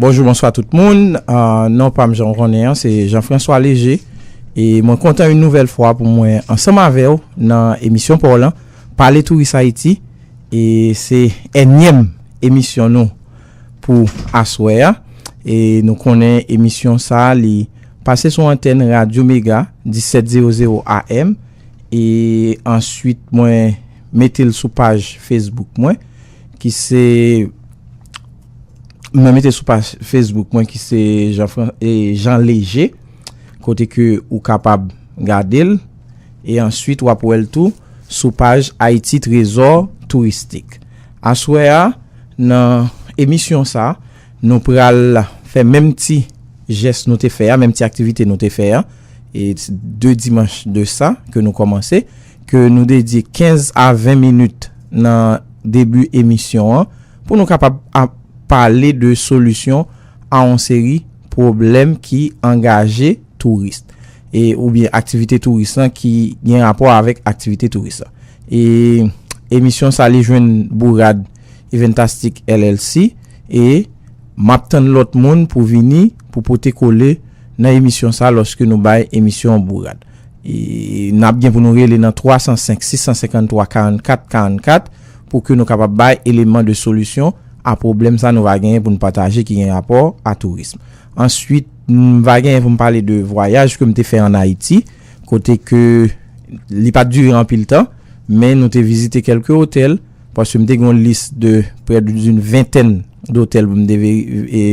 Bonjou bonswa tout moun, non pa m jan konnen an, se Jean François Léger e mwen kontan yon nouvel fwa pou mwen ansanm avè w nan emisyon pa w lan, Pale Touris Ayiti e se ènyèm emisyon nou. Pou aswè a, e nou konnen emisyon sa a li pase sou antèn Radyo Mega 1700 AM e answit mwen mete l sou paj Facebook mwen ki se mwen mete l sou paj Facebook mwen ki se Jean Léger kote ke ou kapab gade l e answit w ap wè l tou sou paj Ayiti Trezò Touristik. Aswè a nan emisyon sa nou pral fè menm ti jès nou te fè a, menm ti aktivite nou te fè a 2 dimanch de sa ke nou kòmanse, ke nou dedye 15 a 20 minit nan debi emisyon an pou nou kapab ap pale de solisyon a yon seri pwoblèm ki angaje touris e oubyen aktivite touris lan ki gen rapò avèk aktivite touris la. E emisyon sa li jwenn bourad Eventastic LLC e map tann lòt moun pou vini pou pote kole nan emisyon sa lòske nou bay emisyon an bourad. E nap gen pou nou rele nan 305 653 44 44 pou ke nou kapab bay eleman de solisyon a pwoblèm sa nou va genyen pou nou pataje ki gen rapò a tourism. Answit, m va genyen pou m pale de vwayaj ke m te fè an Ayiti, kote ke li pa t dire anpil tan, men nou te vizite kelke otèl, paske m te gen yon lis de près d'une vingtaine d'hôtels pou m te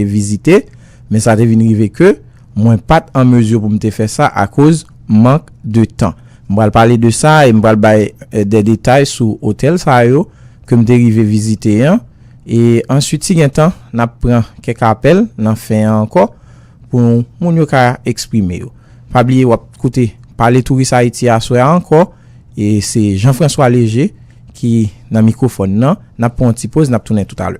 vizite, men sa te vin rive ke mwen pa t an mezi pou m te fè sa akoz mank de tan. M pral pale de sa e m pral bay des détails sou otèl sa yo ke m te rive vizite an, E answit si gen tan nap pran kèk apèl nan fen an ankò pou moun yo ka eksprime yo. Pa bliye wap koute Pale Touris Ayiti aswè a ankò e se Jean François Léger ki nan mikwofòn nan. Nap pran yon ti poz nap tounen toutalè.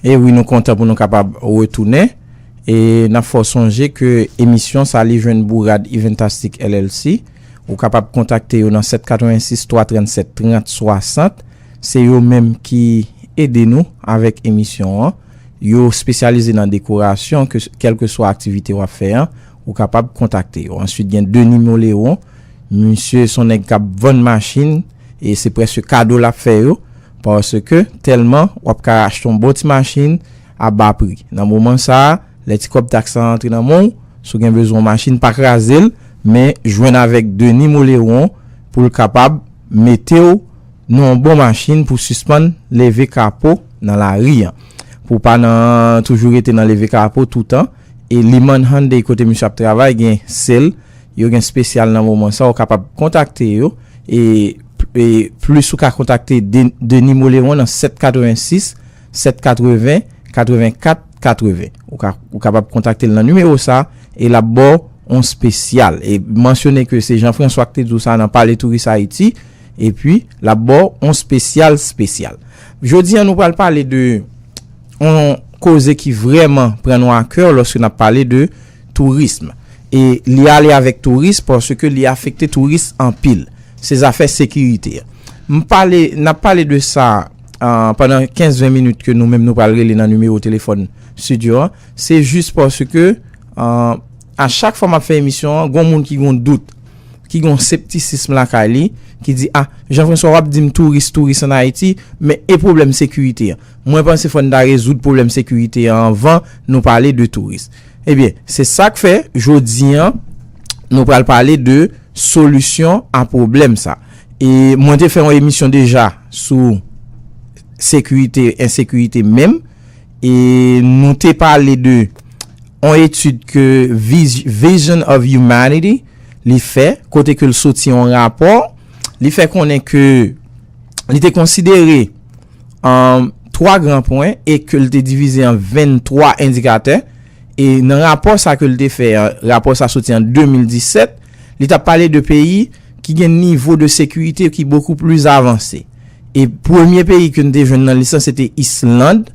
E wi nou kontan pou nou kapab retounen e nap fè w sonje ke emisyon sa li jwenn bourad Iventastic LLC ou kapab kontakte yo nan 7 86 337 30 60 se yo menm ki ede nou avèk emisyon an yo spesyalize nan dekorasyon kèlkeswa aktivite wap fè an Ou kapab kontakte yo. Answit gen Denis Moleron, misye son nèg kap vann machin e se prèske kado lap fè yo paske tèlman wap ka achte yon bon ti machin a ba pri. Nan moman sa a, lè ti kòb taks lan rantre nan men w, si w gen bezwen yon machin, pa kraze l, men jwenn avèk Denis Moleron pou l kapab mete w nan yon bon machin pou w sispann leve kapo nan lari an. Pou w pa nan toujou rete nan leve kapo toutan. E Limann Hyundai kote misye ap travay gen sel yo gen spesyal nan moman sa ou kapab kontakte yo e plis ou ka kontakte Denis Moleron nan 786 780 84 80 ou kapab kontakte l nan nimewo sa e lap baw on spesyal e mansyone ke se Jean François ki te diw sa nan pale touris Haiti epi lap baw on spesyal spesyal. Jodi an nou pral pale de. On koze ki vrèman pran nou a kè lòske nap pale de tourism. E li ale avèk touris paske li afekte touris anpil. Se zafè sekirite. M pale, nap pale de sa pandan 15, 20 minit ke nou menm nou pral rele nan nimewo telefòn studio an. Se jis paske a chak fwa map fè emisyon an, gon moun ki gon dout, ki gon septisism lakay li, ki di, ah, Jean François wap dim touris, touris an Ayiti, men e pwoblèm sekirite an? Mwen panse fò n ta rezoud pwoblèm sekirite an anvan nou pale de touris. Ebyen, se sa k fè jodi an nou pral pale de solisyon a pwoblèm sa. E mwen te fè yon emisyon deja sou sekirite, ensekirite menm. E nou te pale de yon etid ke Vision of Humanity li fè, kote ke l soti yon rapò. Li fè konnen ke li te konsidere. an 3 gran pwen e ke l te divize an 23 endikatè. E nan rapò sa ke l te fè an, rapò sa soti an 2017, li ta pale de peyi ki gen nivo de sekirite ki bokou plis avanse. E premye peyi ke n te jwenn nan lis lan se te Island,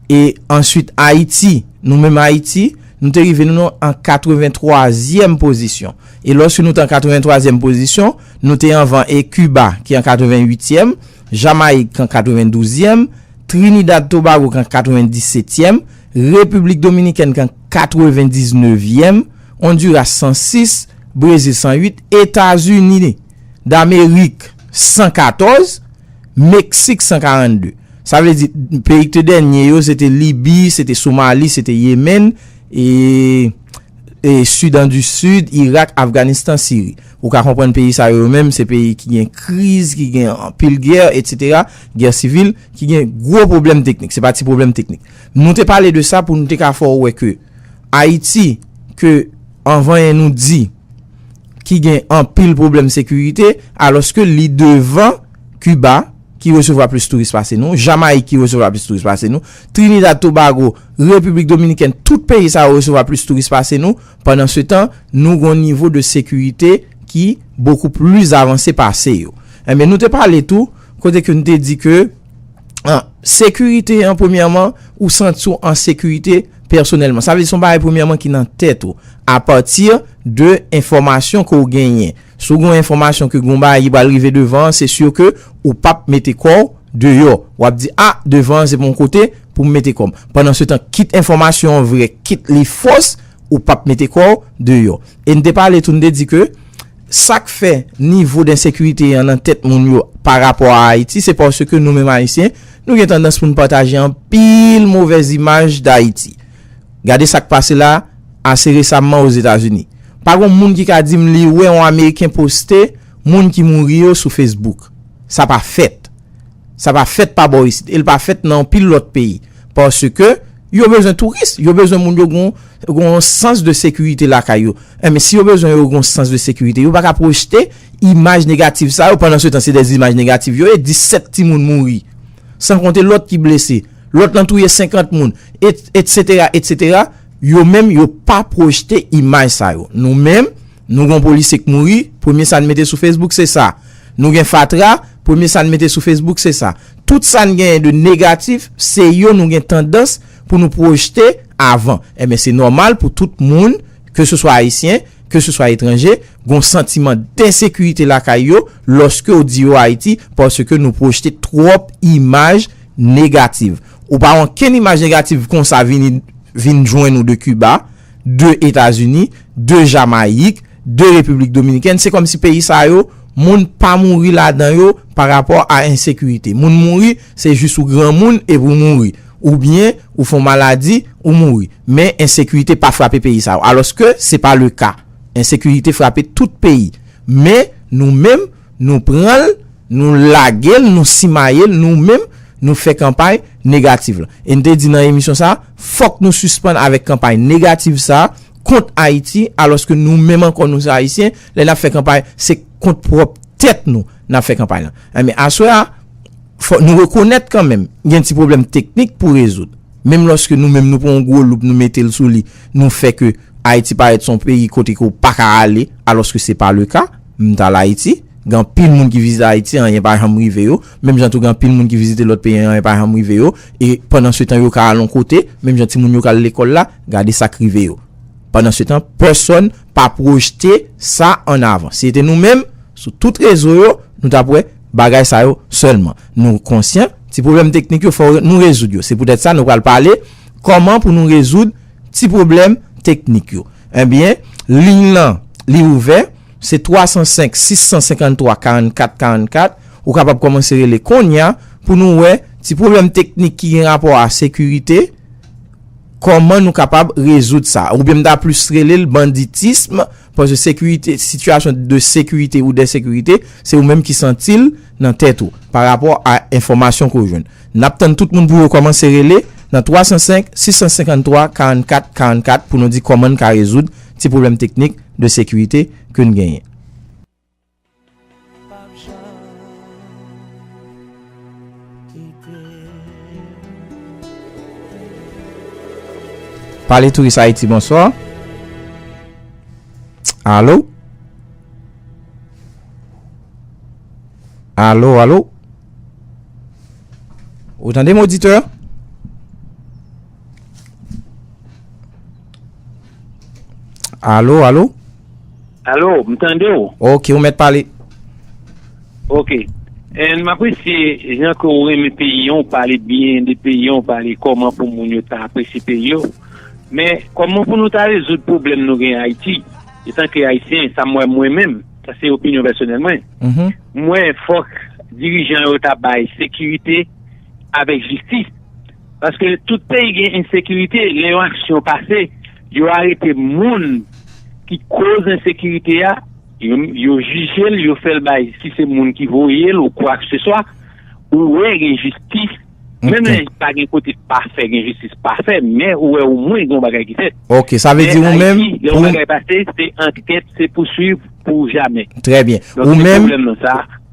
e answit Ayiti. Nou menm Ayiti, nou te rive nou an 83 zyèm pozisyon. E lòske nou te an 83 zyèm pozisyon, nou te anvan e Kiba ki an 88 zyèm. Jamayik kan 92 zièm, Trinidad Tobago kan 90 setyèm, Repiblik Dominikèn kan 99 vièm, Onduras 106, Brezil 108, Etazini Damerik 114, Meksik 142. Sa vle di peyi ki te dènye yo se te Libi, se te Somali, se te Yemen, e Sudan du Sud, Irak, Afganistan, Siri. Ou ka konprann peyi sa yo yo menm se peyi ki gen kriz, ki gen anpil gè, etc. Gè sivil, ki gen gwo pwoblèm teknik. Se pa ti pwoblèm teknik. Nou te pale de sa pou nou te ka fè ou wè ke Ayiti, ke anvanyen nou di ki gen anpil pwoblèm sekirite, alòske li devan Kiba ki resevwa plis touris pase nou, Jamayik ki resevwa plis touris pase nou, Trinidad, Tobago, Repiblik Dominikèn, tout peyi sa yo resevwa plis touris pase nou. Pandan se tan, nou gon nivo de sekirite ki bokou plis avanse pase yo. Enben, nou te pale tou, kote ke nou te di ke, sekirite an, premyèman, ou santi w an sekirite pèsonèlman. Sa vle di se yon bagay premyèman ki nan tèt ou, apati de enfòmasyon ke w genyen. Si w gen yon enfòmasyon ke gen yon bagay ki pral rive devan an, se sur ke ou pa p mete kò w deyò. W ap di, a, devan an se pa yon kote pou m mete kò m. Pandansetan, kit enfòmasyon an vrè, kit li fos, ou pa p mete kò w deyò. E n te pale tou, n te di ke sa k fè nivo densekirite an nan tèt moun yo pa rapò a Ayiti, se paske nou menm Ayisyen, nou gen tandans pou n pataje anpil movèz imaj Dayiti. Gade sa k pase la ase resamman Ozetazini. Pa gon moun ki ka di m li wè yon Ameriken poste moun ki mouri yo sou Facebook. Sa pa fèt. Sa pa fèt pa bò isit e l pa fèt nan yon pil lòt peyi. Paske, yo bezwen touris, yo bezwen moun yo gen yon sans de sekirite lakay yo. Enben, si yo bezwen yo gen yon sans de sekirite, yo pa ka pwojte imaj negatif sa yo. Pandansetan, se de imaj negatif yo ye. 17 timoun mouri, san konte lòt ki blese. Lòt lan touye 50 moun, etc, etc, yo menm yo pa projte imaj sa yo. Nou menm, nou gon polisye k mouri, premye sa n mete sou Facebook se sa. Nou gen fatra, premye sa n mete sou Facebook se sa. Tout sa n genyen de negatif, se yo nou gen tandans pou nou projte avan. Enben se nòmal pou tout moun, ke se swa Ayisyen, ke se swa etranje, gon santiman densekirite lakay yo, lòske w di yo Ayiti, paske nou projte twòp imaj, negativ. Ou pa wè ankenn imaj negativ konsa vini vin jwenn ou de Kiba, de Etazini, de Jamayik, de Repiblik Dominikèn. Se kòmsi peyi sa yo, moun pa mouri ladan yo pa rapò a ensekirite. Moun mouri, se jis ou granmoun epi ou mouri. Oubyen, ou fon maladi, ou mouri. Men, ensekirite pa frape peyi sa yo. Alòske, se pa le ka. Ensekirite frape tout peyi. Men, nou menm, nou pran l. Nou lage l, nou simaye l, nou menm, nou fè kanpay negativ la. E n te di nan emisyon sa a, fòk nou sispann avèk kanpay negativ sa a kont Ayiti, alòske nou menm ankò nou se Ayisyen, lè n ap fè kanpay, se kont pwòp tèt nou n ap fè kanpay la. Enben, aswè a, fò nou rekonèt kan menm, gen ti pwoblèm teknik pou rezoud. Menm lòske nou menm nou pran yon gwo loup nou mete l sou li, nou fè ke Ayiti parèt se yon peyi kote ke ou pa ka ale, alòske se pa le ka, m t al Ayiti, Gen anpil moun ki vizite Ayiti anyen pa janm rive yo, menm jan tou gen anpil moun ki vizite lòt peyi anyen pa janm rive yo, e pandansetan yo ka al on kote, menm jan timoun yo ka al lekòl la, gade sa k rive yo. Pandansetan, pèsòn pa pwojte sa ann avan. Si se te nou menm, sou tout rezo yo, nou t ap wè bagay sa yo sèlman. Nou konsyan, ti pwoblèm teknik yo fò nou rezoud yo. Se poutèt sa nou pral pale kòman pou nou rezoud ti pwoblèm teknik yo. Enben, liy lan li ouvè. Se 305 653 44 44 ou kapab kòmanse rele konnya pou nou wè ti pwoblèm teknik ki gen rapò a sekirite kòman nou kapab rezoud sa oubyen m ta plis rele l banditism paske sekirite sitiyasyon de sekirite ou dèsekirite se ou menm ki santi l nan tèt ou pa rapò a enfòmasyon ke w jwenn n ap tann tout moun pou yo kòmanse rele nan 305 653 44 44 pou nou di kòman n ka rezoud ti pwoblèm teknik de sekirite ke n genyen. Pale Touris Ayiti bonswa. Alo. Alo alo. Ou tande m oditè? Alo, alo? Alo, m tande w. Ok, ou mèt pale. Ok. M apresye jan ke ou renmen peyi an, ou pale byen de peyi an, ou pale kòman pou moun yo ta apresye peyi yo. Men, kòman pou nou ta rezoud pwoblèm nou gen Ayiti? Etanke Ayisyen, sa m wè mwen menm, sa se opinyon pèsonèl mwen, m wè fòk dirijan yo ta bay sekirite avèk jistis. Paske tout peyi gen ensekirite, lè yon aksyon pase, yo arete moun ki koz ensekirite a, yo jije l, yo fè l bay, si se moun ki voye l ou kwakseswa, ou wè gen jistis, menm lè pa gen kote pafè, gen jistis pafè, men ou wè o mwen gen yon bagay ki fèt. Ok, sa vle di ou menm, pou. Lè yon bagay pase, se ankèt, se pouswiv pou jamè. Trè byen. Ou menm. Donk se pwoblèm nan sa.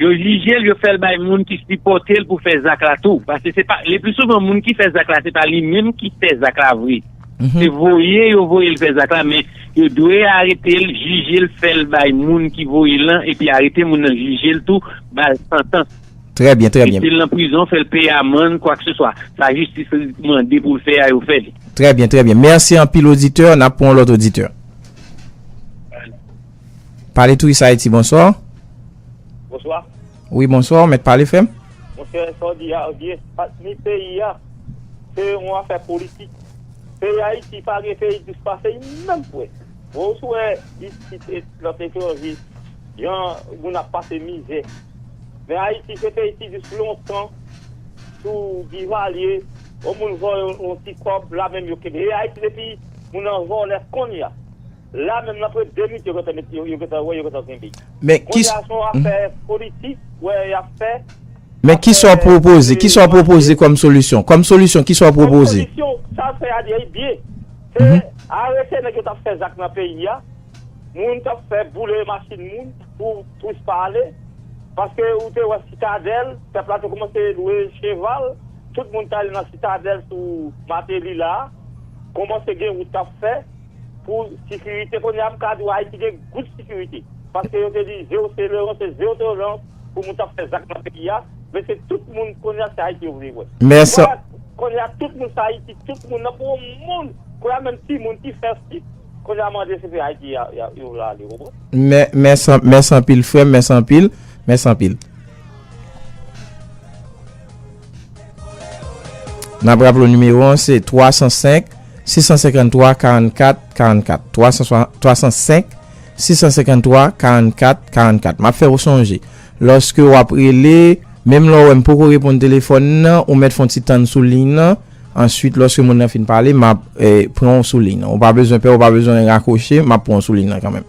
Yo jije l, yo fè l bay moun ki sipòte l pou fè zak la tou. Paske se pa, le pli souvan moun ki fè zak la se pa li menm ki fè zak la vre. Se voye yo voye l fè zak la men yo dwe arete l, jije l, fè l bay moun ki voye l lan epi arete moun nan, jije l tou, ba l santans. Trè byen, trè byen. Mete l nan prizon, fè l peye amann, kwakseswa. Sa jistis mande pou l fè a, yo fè li. Trè byen, trè byen. Mèsi anpil oditè. N ap pran yon lòt oditè. Pale Touris Ayiti, bonswa. Bonswa. Wi, bonswa, ou mèt pale fè m. Monchè, sa w di a byen. Ni peyi a, se yon afè politik. Peyi Ayiti pa gen peyi dous pase li menm vre. Wè w si w wè isit e lòt etranje, jan moun ap pase mizè. Men Ayiti se peyi ki dous lontan sou Divalye. Yon moun vòlè yon ti kòb, la menm yo kenbe. E Ayiti depi moun nan vòlè kounye a. La menm nan pre 2 minit yo gentan met yo gentan wè yo gentan kenbe. Men ki Konnya son afè politik ou wè yap fè. Men kisa w pwopoze, kisa w pwopoze kòm solisyon? Kòm solisyon kisa w pwopoze? Kòm solisyon, sa w fè a li byen. Se arete nèg yo tap fè zak nan peyi a, moun kap fè boule machin moun pou touris pa ale. Paske ou te wè sitadèl, pèp la te koumanse lwe cheval, tout moun te ale nan sitadèl sou Mateli la a. Koumanse gen wout kap fè. Pou sikirite kounye a m ka di w Ayiti gen good sikirite. Paske yo te di zero tolerance, zero tolerance pou moun t ap fè zak nan peyi a. Men se tout moun kounye a se Ayiti yo vle wè. Kounye a kounye a tout moun se Ayiti. Tout moun nan pou yon moun kounye a menm timoun ki fè si kounye a mande se peyi Ayiti yo vle ale ou konprann. Mèsi anpil frè m. Mèsi anpil. Mèsi anpil. N ap raple w nimewo an se 305 653 44 44, 305 653 44 44. M ap fè w sonje, lòske w ap rele, menm lè w wè m poko reponn telefòn nan, ou mèt fon ti tann sou liy nan, answit lòske moun nan fin pale, m ap pran w sou liy nan. Ou pa bezwen pè, ou pa bezwen rakwoche, m ap pran w sou liy nan kanmenm.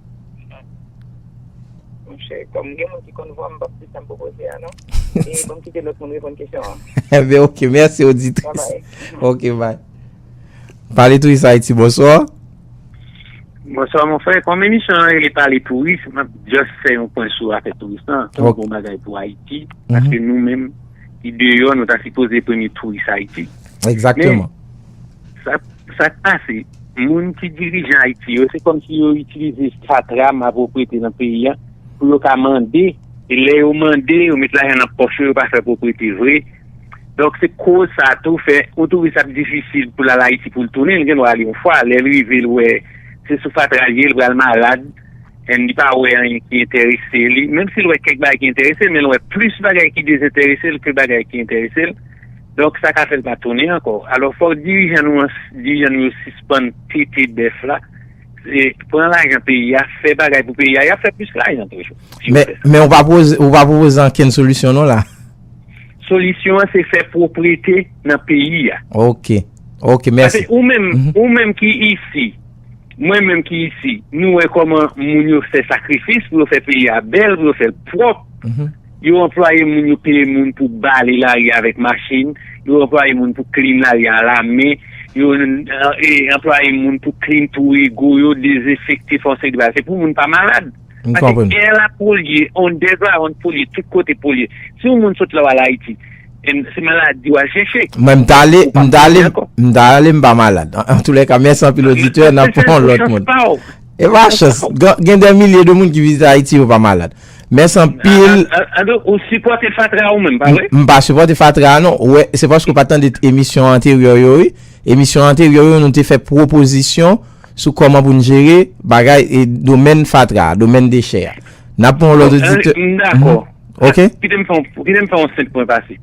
Monchè, kòm gen moun ki konn vwa m, m pap di sa m pwopoze a non. E pou m kite lòt moun reponn kesyon an. Enben ok, mèsi oditris. Ok bay. Pale Touris Ayiti, bonswa. Bonswa mon frè, kòm emisyon an rele pale touris, m ap just fè yon pwen sou afè touris lan. Se yon bon bagay pou Ayiti, paske nou menm ki deyò nou ta sipoze premye touris Ayiti. Egzakteman. Sak pase, moun ki dirijan Ayiti yo, se kòm si yo itilize fatra, malproprete nan peyi a, pou yo ka mande, e lè yo mande, yo met lajan nan pòch yo, yo pa fè proprete vre. Donk se koz sa tou fè, yon touris ap difisil pou l al Ayiti pou l tounen, li gen dwa al yon fwa, lè l rive l wè se sou fatra l ye, l pral malad, and li pa wè anyen ki enterese li, menm si l wè kèk bagay ki enterese l, men l wè plis bagay ki dezenterese l ke bagay ki enterese l. Donk sa ka fè l pa tounen ankò. Alò fòk dirijan nou an, dirijan nou yo sispann tete bèf la, pran lajan peyi a, fè bagay pou peyi a, y ap fè plis lajan toujou. Men ou pa pwoze, ou pa pwopoze ankenn solisyon non la. Solisyon an se fè pwoprete nan peyi a. Ok, ok, mèsi. Ou menm, ou menm ki isi, mwen menm ki isi, nou wè kòman moun yo fè sakrifis pou yo fè peyi a bèl, pou yo fè l pwòp. Yo anplwaye moun, yo peye moun pou bale lari a avèk machin, yo anplwaye moun pou klin lari a alamen, yo anplwaye moun pou klin twou ego yo, dezenfekte fon seri de bagay. Se pou moun pa malad. Pase è la polye, underground polye, tout kote polye. Si yon moun sot la w al Ayiti, se maladi w al chèche. Mwen m ta ale, m ta ale, m ta ale m pa malad. Antoulèka, mèsi anpil oditè, n ap pran lòt moun. E pa chans, gen dè milye de moun ki vizite Ayiti yo pa malad. Mès anpil. An do ou sipote fatra ou menm pa vre? M pa sipote fatra non. Ou wè se paske ou pa tande emisyon anterye yo wi. Emisyon anterye yo nou te fè pwopozisyon sou koman pou n jere bagay e domèn fatra a, domèn dechè a. N ap pran yon lòt oditè. M dakò. Ok. Kite m fè yon senp pwen pase.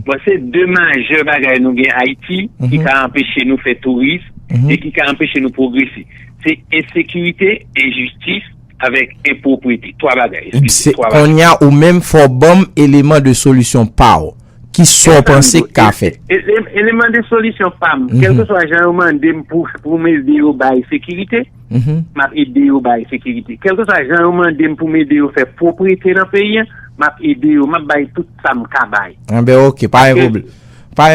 Bon se de majè bagay nou gen Ayiti ki ka anpeche nou fè touris e ki ka anpeche nou pwogrese. Se ensekirite, enjistis. avèk enpwoprite, 3 bagay, eskize, 3 bagay. Konnya ou menm fò w banm eleman de solisyon pa w. Ki sa w panse k ka fèt? Eleman de solisyon pa m, kèlkeswa jan yo mande m pou m ede yo bay sekirite, m ap ede yo bay sekirite. Kèlkeswa jan yo mande m pou m ede yo fè pwoprete nan peyi an, m ap ede yo, m ap bay tout sa m ka bay. Enben ok, pa gen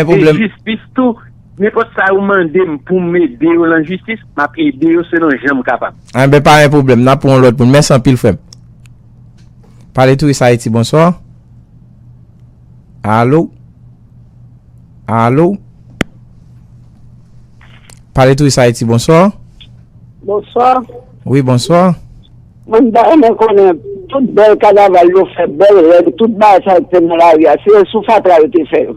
pwoblèm. E jistis tou, Nenpòt sa yo mande m pou m ede yo lan jistis, m ap ede yo selon jan m kapab. Enben, pa gen pwoblèm. N ap pran yon lòt moun. Mèsi anpil, frè m. PaleTourisAyiti, bonswa. Alo? Alo? PaleTourisAyiti, bonswa. Bonswa. Wi, bonswa. Mwen ta renmen konnen, tout bèl kanaval yo fè, bèl règ, tout bagay sa yo ki te nan lari a, se sou fatra yo te fè yo?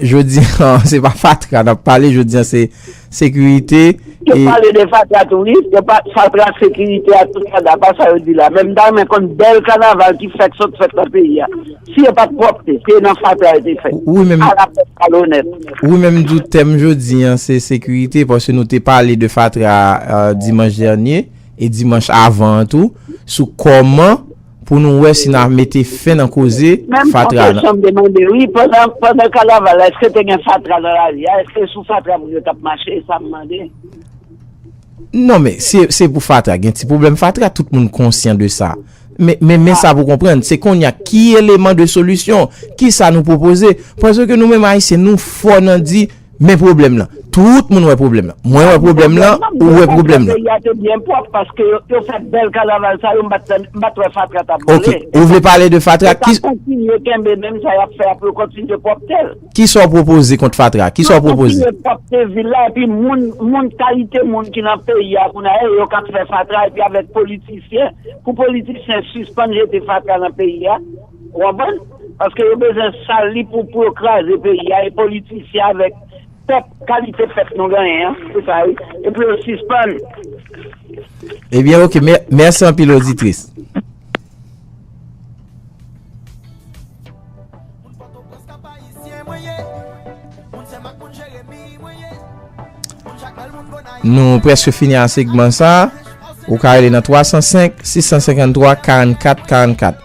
Jodi an se pa fatra nap pale jodi an se sekirite. Yo pale de fatra tou wi, yo pa fatra ak sekirite ak tout fatra pa sa yo di la men m ta renmen konn bèl kanaval ki fèk sot fèt nan peyi a si yo pat pwòpte se nan fatra yo te fèt ala pèp malonèt. Wi men m di w tèm jodi an se sekirite paske nou te pale de fatra dimanch dènye e dimanch avan an tou sou kòman. Pou nou wè si na mete fen nan koze fatra nan. Menm yon kesyon m te mande wi, pandan kanaval la eske te gen fatra nan lari a? Eske sou fatra moun yo t ap mache? E sa m mande. Non men, si se pou fatra, gen ti pwoblèm fatra, tout moun konsyan de sa. Men men sa pou konprann, se konnya ki eleman de solisyon, ki sa nou pwopoze? Paske nou menm Ayisyen nou fò nan di. Men pwoblèm lan. Tout moun wè pwoblèm lan. Mwen wè pwoblèm lan, ou wè pwoblèm lan. Peyi a te byen pwòp paske yo fè bèl kanaval sa yo m pa t wè fatra t ap boule. Ok. Ou vle pale de fatra. Yo ta kontinye kenbe menm sa y ap fè a pou yo kontinye pwòpte l. Kisa w pwopoze kont fatra? Kisa w pwopoze? Yo kontinye pwòpte vil la epi moun kalite moun ki nan peyi a kounye a e yo k ap fè fatra epi avèk politisyen pou politisyen sispann jete fatra nan peyi a. Ou konprann? Paske yo bezwen sal li pou pou yo kraze peyi a e politisyen avèk pèp kalite pèp nou genyen an se sa wi e pou yo sispann. Ebyen ok merci anpil oditris. Nou preske fini a segman sa. Ou ka rele nan 305 653 44 44.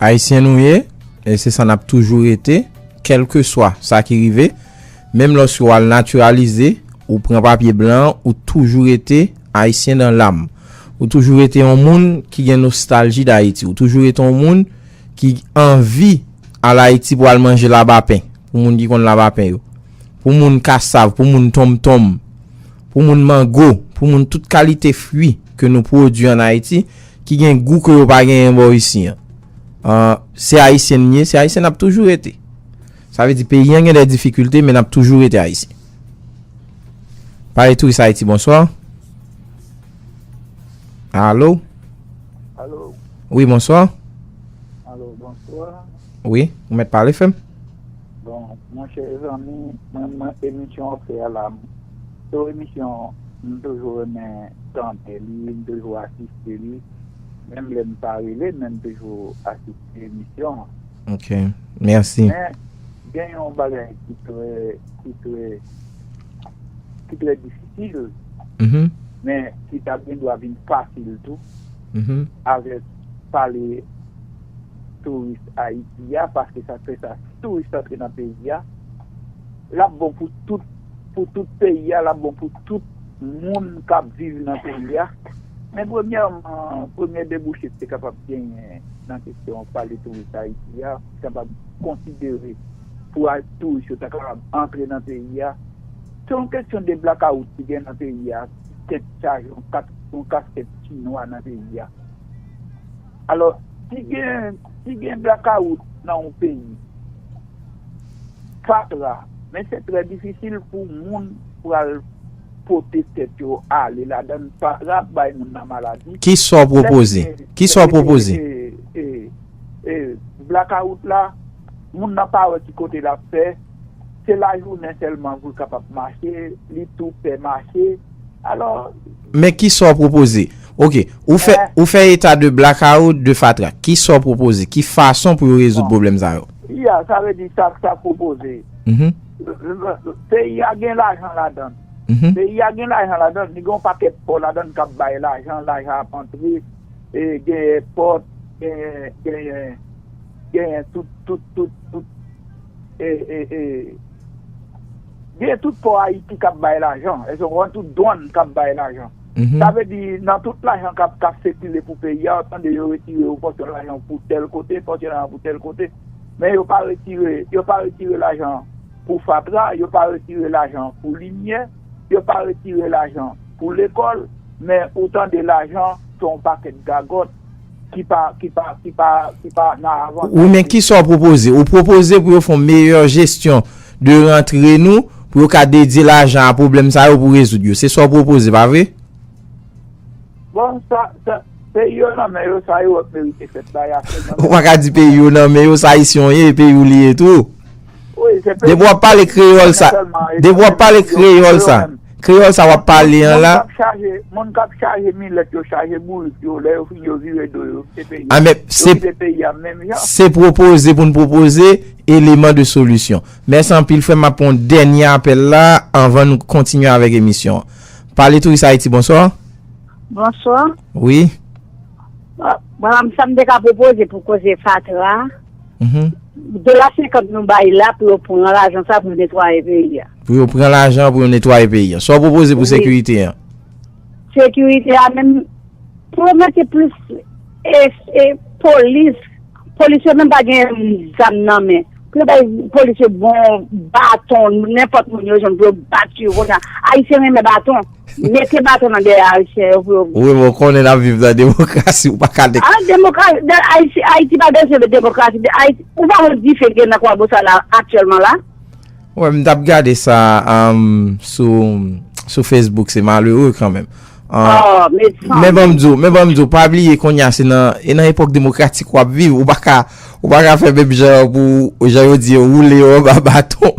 Ayisyen nou ye, e se sa nap toujou rete, kelke swa sa ki rive, menm loske wal naturalize, ou pran papye blan, ou toujou rete Ayisyen dan lam. Ou toujou rete yon moun ki gen nostalji dAyiti. Ou toujou rete yon moun ki anvi al Ayiti pou al manje labapen, pou moun ki konn labapen yo. Pou moun kasav, pou moun tonmtonm, pou moun mango, pou moun tout kalite fwi ke nou pwodwi an Ayiti, ki gen gou ke yo pa genyen bò isi an. An, se Ayisyen n ye, se Ayisyen n ap toujou rete. Sa vle di peyi an gen dè difikilte men n ap toujou rete Ayisyen. Pale Touris Haiti, bonswa. Alo? Alo? Wi, bonswa. Alo, bonswa. Wi, ou mèt pale fè m. Bon monchè zanmi mwen mwen emisyon wap fè a la m se yon emisyon m toujou renmen tande li m toujou asiste li menm lè m pa rele men m toujou asiste emisyon an ok mèsi. Men gen yon bagay ki trè ki trè ki trè difisil men ki ta gen dwa vin fasil tou avèk. pale touris Ayiti a, paske sa k fè sa, si touris antre nan peyi a, l ap bon pou tout, pou tout peyi a, l ap bon pou tout moun k ap viv nan peyi a. Men premyèman, premye debouche te kapab genyen nan kesyon pale touris Ayiti a, te kapab konsidere pou touris yo ta kapab antre nan peyi a, se yon kesyon de blakawout ki gen nan peyi a, ki kèk chaje yon kaskèt chinwa nan peyi a. Alò, si gen, si gen blakawout nan yon peyi, fatra, men se trè difisil pou moun pral pote tèt yo ale ladan l, fatra ap bay moun nan maladi. Ki sa w pwopoze? Ki sa w pwopoze? E, e, e, e, blakawout la, moun nan pa wè ki kote l ap fè. se lajounen sèlman pou l kapab mache, li tou pè mache, alò. Men ki sa w pwopoze? Ok, ou fè eta de blackout, de fatra. Ki sa w pwopoze? Ki fason pou yo rezoud pwoblèm sa yo? Ya, sa vle di sa k pwopoze. Peyi a gen lajan ladan l. Peyi a gen lajan ladan l, li gen yon pakèt pò ladan l k ap bay lajan, lajan ap antre, genyen pòt, genyen. Genyen tout tout tout tout e e e genyen tout pò ayiti kap bay lajan èske ou konprann tout dwann kap bay lajan sa vle di nan tout lajan kap kap sikile pou peyi a ou tande yo retire yon pòsyon lajan pou tèl kote pòsyon lajan pou tèl kote men yo pa retire yo pa retire lajan pou fatra yo pa retire lajan pou limyè yo pa retire lajan pou lekòl men ou tande lajan se yon pakèt gagòt Ki pa, ki pa, ki pa, ki pa nan avantaj. Wi men kisa w pwopoze? Ou pwopoze pou yo fon meyè jesyon de rantre nou pou yo ka dedye lajan a pwoblèm sa yo pou rezoud yo. Se sa w pwopoze pa vre? Bon, sa, sa, peyi yo nan men yo, sa yo wè k merite fèt la y a fèt nan men yo. Ou pa ka di peyi yo nan men yo, sa Ayisyen w ye, e peyi w li ye tou. Depi wap pale kreyol sa. Depi wap pale kreyol sa. Kreyol sa wap pale an la. Moun kap chaje milet yo chaje bourik yo le yo fini yo vire do yo kite peyi a. Yo kite peyi a menm jan. Se propoze pou n propoze eleman de solisyon. Mèsi anpil frè m ap pran yon dènye apèl la anvan nou kontinye avèk emisyon an. Pale Touris Ayiti bonswa. Bonswa. Wi. Bon sa m te ka propoze pou koze fatra a. Dola 50 nou bay la pou yo pran lajan sa pou yo netwaye peyi a. Pou yo pran lajan pou yo netwaye peyi a. Sa w pwopoze pou sekirite a? Sekirite a menm, pou yo mete plis polis, polis yo menm pa gen zam nan men. Pou yo bay polis yo bon baton, nenpòt moun yo jwenn pou yo bat yo konsa. Ayisyen renmen baton. Mete baton nan dèyè ayisyen yo pou yo. Wi men w konnen n ap viv nan demokrasi ou pa ka de. An demokrasi, ayiti pa bezwen de demokrasi, ou pa wè dife gen nan kwabosal la aktyèlman la. Wè m t ap gade sa sou facebook se malere kan menm. Men ban m di w, men ban m di w, pa bliye kounye a se nan, e nan epòk demokratik w ap viv, ou pa ka, ou pa ka fè menm jan pou jan yo di yo woule yo anba baton.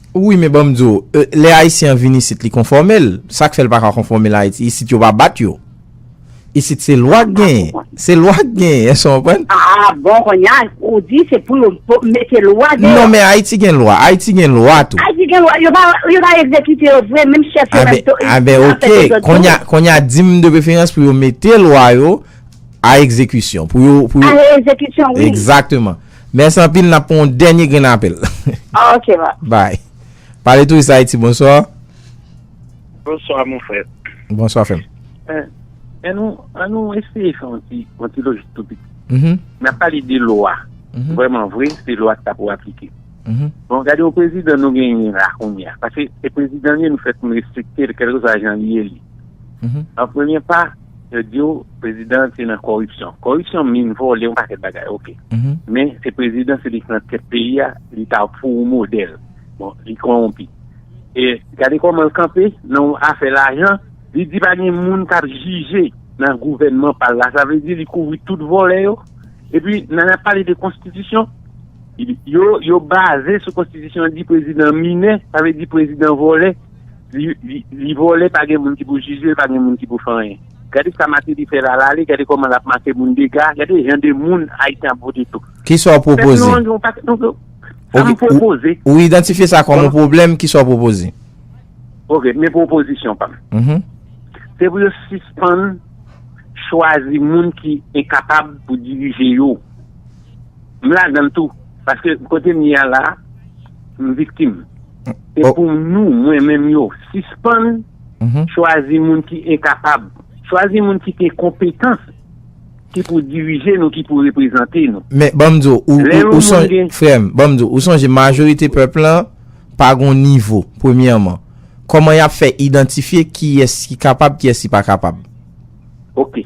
Wi men banm di w, lè ayisyen an vin isit li konfòme l, sak fè l pa ka konfòme l ayiti, isit yo pa bat yo. Isit se lwa k genyen, se lwa k genyen, èske w konprann? Ah bon konnya ou di se pou yo mete lwa deyò. Non men ayiti gen lwa, ayiti gen lwa tou. Ayiti gen lwa, yo pa egzekite yo vre, menm chèf yo menm tou. Ah ben ok, konnya konnya di m de preferans pou yo mete lwa yo a egzekisyon, pou yo pou yo. A egzekisyon wi. Egzakteman. Mèsi anpil nap pran yon dènye grenn apèl. Ok ma. Bye. Pale touris ayiti bonsoir. Bonsoir mon frè. Bonsoir frèm. An nou an nou eseye fè yon ti yon ti lojik tou piti. Nap pale de lwa. Vreman vre se lwa sa pou aplike. Bon gade yon prezidan nou genyen la kounye a. Pase se prezidan nou ye nou fè pou nou respekte l kèlkeswa jan li ye li. An premye pa. Yo diw prezidan an te nan kòripsyon. Kòripsyon min vòlè yon pakèt bagay ok. Men se prezidan se li ki nan tèt peyi a li ta pou ou modèl. Bon li kowonpi. E gade kòman l kanpe nan yon afè lajan li di pa gen moun kap jije nan gouvènman pal la sa vle di li kouvri tout vòlè yo. Epi nan ap pale de konstitisyon yo yo baze sou konstitisyon di prezidan minè sa vle di prezidan vòlè. Li vole pa gen moun ki pou jijel pa gen moun ki pou fè anyen gade sa mateli fè lala li gade koman lap make moun dega gade jan de moun ayisyen ap vote tou. Kisa w pwopoze? Sa m pwopoze. Ou idantifye sa kòm yon pwoblèm kisa w pwopoze? Ok men pwopozisyon pa m. Se pou yo sispann chwazi moun ki enkapab pou dirije yo. M ladanl tou paske kotem ye a la m viktim se pou nou mwen menm yo sispann chwazi moun ki enkapab chwazi moun ki gen konpetans ki pou dirije nou ki pou reprezante nou. Men banm di w frèm banm di w ou sonje majorite pèp lan pa gon nivo premyèman kòman yap fè idantifye kiyès ki kapab kiyès ki pa kapab. Ok,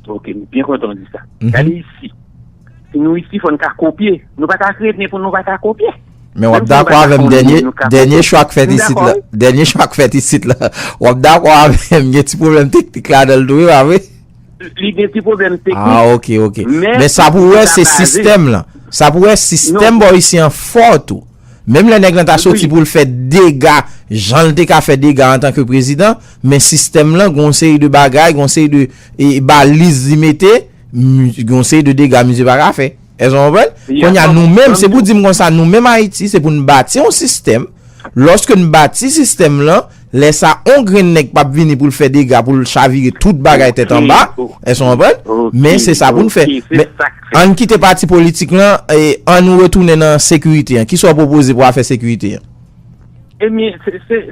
ok, m byen kontan w di sa. Gade isi, si nou isi fò n ka kopye, nou pa ka kreye byen pou nou pa ka kopye. Men wap dakò avèm dènye, dènye chwa k fèt isit la, dènye chwa k fèt isit la, wap dakò avèm gen ti pwoblèm teknik ladanl tou wi pa vre? Li gen ti pwoblèm teknik. Ah ok, ok. Men sa pou wè se sistèm lan, sa pou wè sistèm bò isi an fò tou. Menm lè nèg lan ta soti pou l fè dega jan l te ka fè dega antan ke prezidan, men sistèm lan gen yon seri de bagay, gen yon seri de baliz li mete, gen yon seri de dega misye pa ka fè. Èske nou konprann? Kounye a nou menm, se pou di m konsa, nou menm Ayiti, se pou n bati yon sistèm, lòske n bati sistèm lan, Lè sa on grenn nèg pap vini pou l fè dega pou l chavire tout bagay tèt anba, èske nou konprann? Men se sa pou n fè. Men, an n kite pati politik lan, an nou retounen nan sekirite an. Ki sa w pwopoze pou afè sekirite an? Ebyen,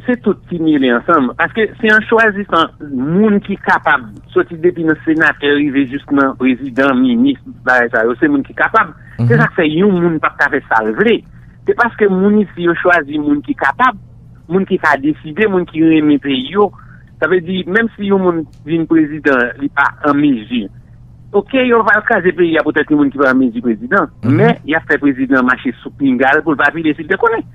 se tout ki mele ansanm. Paske se an chwazissan moun ki kapab, soti depi nan senatè rive jis nan prezidan, minis, tout bagay sa yo, se moun ki kapab. Se sa k fè yon moun pap ka fè sa l vle. Se paske moun isi yo chwazi moun ki kapab. Moun ki ka deside, moun ki renmen peyi yo, sa vle di menm si yon moun vin prezidan li pa an mezi, ok yo pa kraze peyi a poutèt yon moun ki pa an mezi prezidan, men y ap fè prezidan an mache sou pinga l pou l pa vide si l te konnen.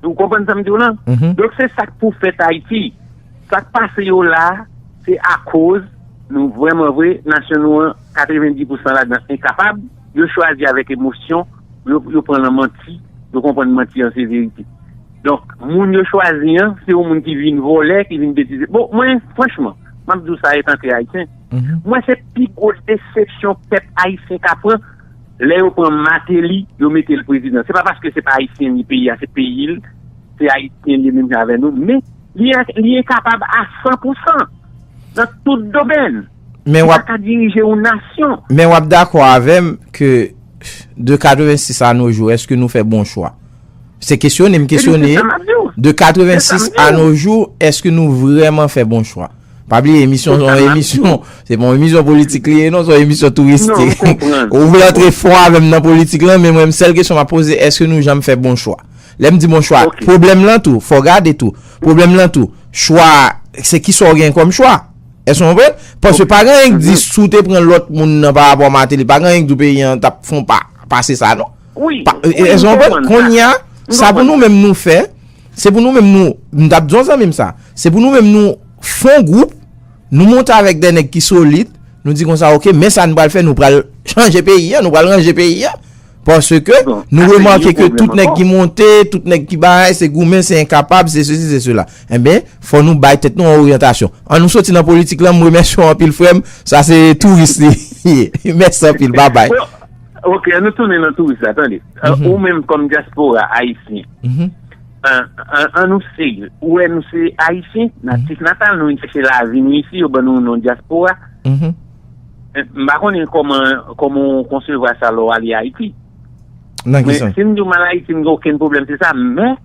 Ou konprann sa m di w lan? Donk se sa k pou fèt Ayiti. Sa k pase yo la a se akoz nou vrèman vre nasyon nou an 90 pousan ladan enkapab, yo chwazi avèk emosyon. Yo pran lan manti, yo konprann manti an se verite. Donk, moun yo chwazi an, se yon moun ki vin vòlè, ki vin betize. Bon, mwen, franchman, m ap di w sa etan ke Ayisyen, mwen se pi gwo desepsyon pèp Ayisyen ka pran lè yo pran Mateli, yo mete l prezidan. Se pa paske se pa Ayisyen ni peyi a, se peyi l, se Ayisyen li menm jan avè nou, men li enkapab a san pou san nan tout domèn. Men wap. Li pa ka dirije yon nasyon. Men wap dakò avèm ke de 86 a no jou eske nou fè bon chwa? Se kesyon em kesyone. Ebyen se sa map diw. De 86 a no jou eske nou vreman fè bon chwa? Pa bliye emisyon son emisyon. Se pon emisyon politik liye non son emisyon touristik. Non m konprann. Ou vle antre fon avèm nan politik lan men mwen sèl kesyon map poze eske nou janm fè bon chwa? Lèm di bon chwa. Ok. Pwoblèm lan tou fò gade tou. Pwoblèm lan tou chwa se kisa w gen kòm chwa? Èske nou konprann? Paske pa gen anyen ki di si w te pran lòt moun nan pa rapò a Mateli, pa gen anyen ki di w peyi an t ap fon pa pase sa non. Wi, wi, m konprann sa. Konnye a, sa pou nou menm nou fè, se pou nou menm nou, m t ap di yon zanmi m sa, se pou nou menm nou fon gwoup, nou monte avèk de nèg ki solid, nou di konsa ok, men sa nou pral fè, nou pral chanje peyi an, nou pral ranje peyi an. Paske nou remake ke tout nèk ki monte, tout nèk ki bay, se goumen, se enkapab, se se si, se se la. Enben, fò nou bay tèt nou an oryantasyon. An nou soti nan politik lan, m remèsye w anpil frè m, sa se touris li ye. Mèsi anpil, babay. Ok, an nou tounen nan touris la, tande. Ou menm kòm diaspora ayisyen, an nou se, ou wè nou se ayisyen, natif natal, nou vin chèche lavi nou isi, yo ban nou non diaspora. M pa konnen kòman kòman ou konsevwa sa lè w ale Ayiti. Nan ki sans? Si m di w m al Ayiti m gen okenn pwoblèm se sa men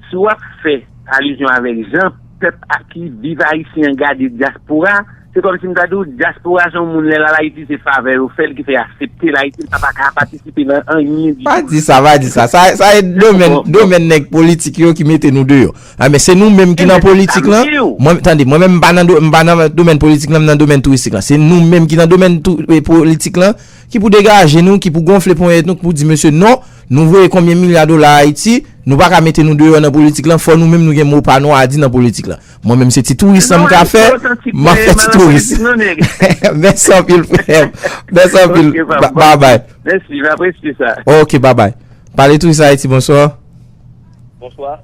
si w ap fè alizyon avèk jan pèp ak ki viv Ayisyen an gade dyaspora se kòm si m ta di w dyaspora se yon moun lè l al Ayiti se favè yo fè l ki fè y asepte l Ayiti l pa pa ka patisipe nan anyen ditou. Pa di sa, pa di sa. Sa e domèn domèn nèg politik yo ki mete nou deyò. A men se nou menm ki nan politik lan, mwen tande, mwen menm m pa nan do, m pa nan domèn politik lan, m nan domèn touristik lan. Se nou menm ki nan domèn tou, e politik lan, ki pou degaje nou, ki pou gonfle ponyèt nou, ki pou di mesye non, nou voye konbyen milya dola Ayiti, nou pa ka mete nou deyò nan politik lan, fò nou menm nou gen mo pa nou a di nan politik lan. Mwen menm se ti touris lan m ka fè, m ap fè ti touris. Mèsi anpil frè m. Mèsi anpil. Bye bye. Mèsi, m apresye sa. Ok, bye bye. Pale touris Ayiti, bonsoir. Bonsoir.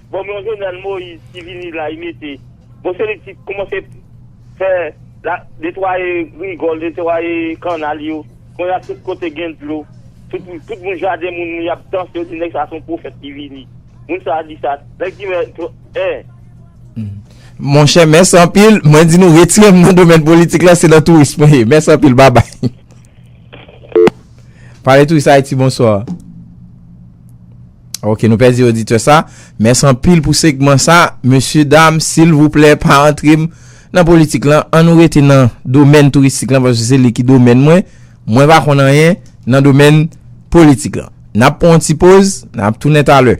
Bon men yon jovenel moise ki vini la li mete bon se li ki koumanse fè la netwaye rigol netwaye kannal yo konnya tout kote gen dlo tout tout moun jaden moun moun yap danse yo di nèg sa son pwofèt ki vini moun sa di sa nèg di mè tro è. Monchè mèsi anpil mwen di nou retire m nan domèn politik la se nan touris mwen ye mèsi anpil babay. Pale touris ayiti bonswa. Ok nou pèdi oditè sa. Mès anpil pou segman sa. Mesye dam silvouplè pa antre m nan politik lan. An nou rete nan domèn touristik lan paske se li ki domèn mwen. Mwen pa konn anyen nan domèn politik lan. N ap pran yon ti poz, n ap tounen talè.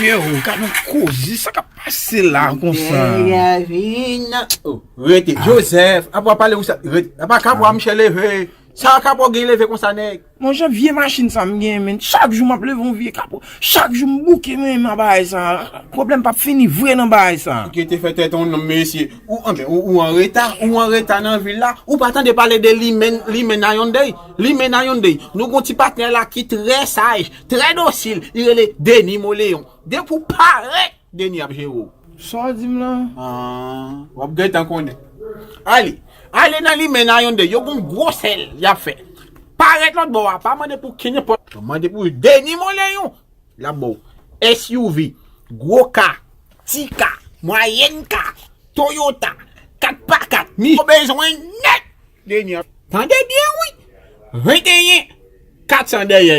Mesye ou gade yon koze sa kap pase la konsa. Rete Joseph, apa pale ou sa, apa kapwa msye leve, sa kapwa gen leve konsa nèg. Mon chè vye machin sa m genyen menn chak jou map leve yon vye kapot chak jou m bouke mwen menm a bagay sa pwoblèm pap fini vre nan bagay sa. Ou kite fè tèt ou nonm mesye. Ou anben ou ou anreta ou anreta nan vil la ou pa tande pale de limen limen na yon dey limen na yon dey nou gon ti patnè la ki trè saj trè dosil li rele Denis Moleon depi ou parèt Deni ap jere w. Sa w di m lan? Aah. Wap gentan konnen. Anli. Ale nan limen nan yon de yo gon gwo sèl yap fè. Parèt lòt bò a. Pa mande pou kenenpòt. Mande pou Deni Molen yon. Lap ba w. SUV. Gwo ka. Ti ka. Mwayèn ka. Toyota. 4 pa 4. Ni. Ou bezwen nèt. Deni ap. Tande byen wi. 21. 400 dèyè.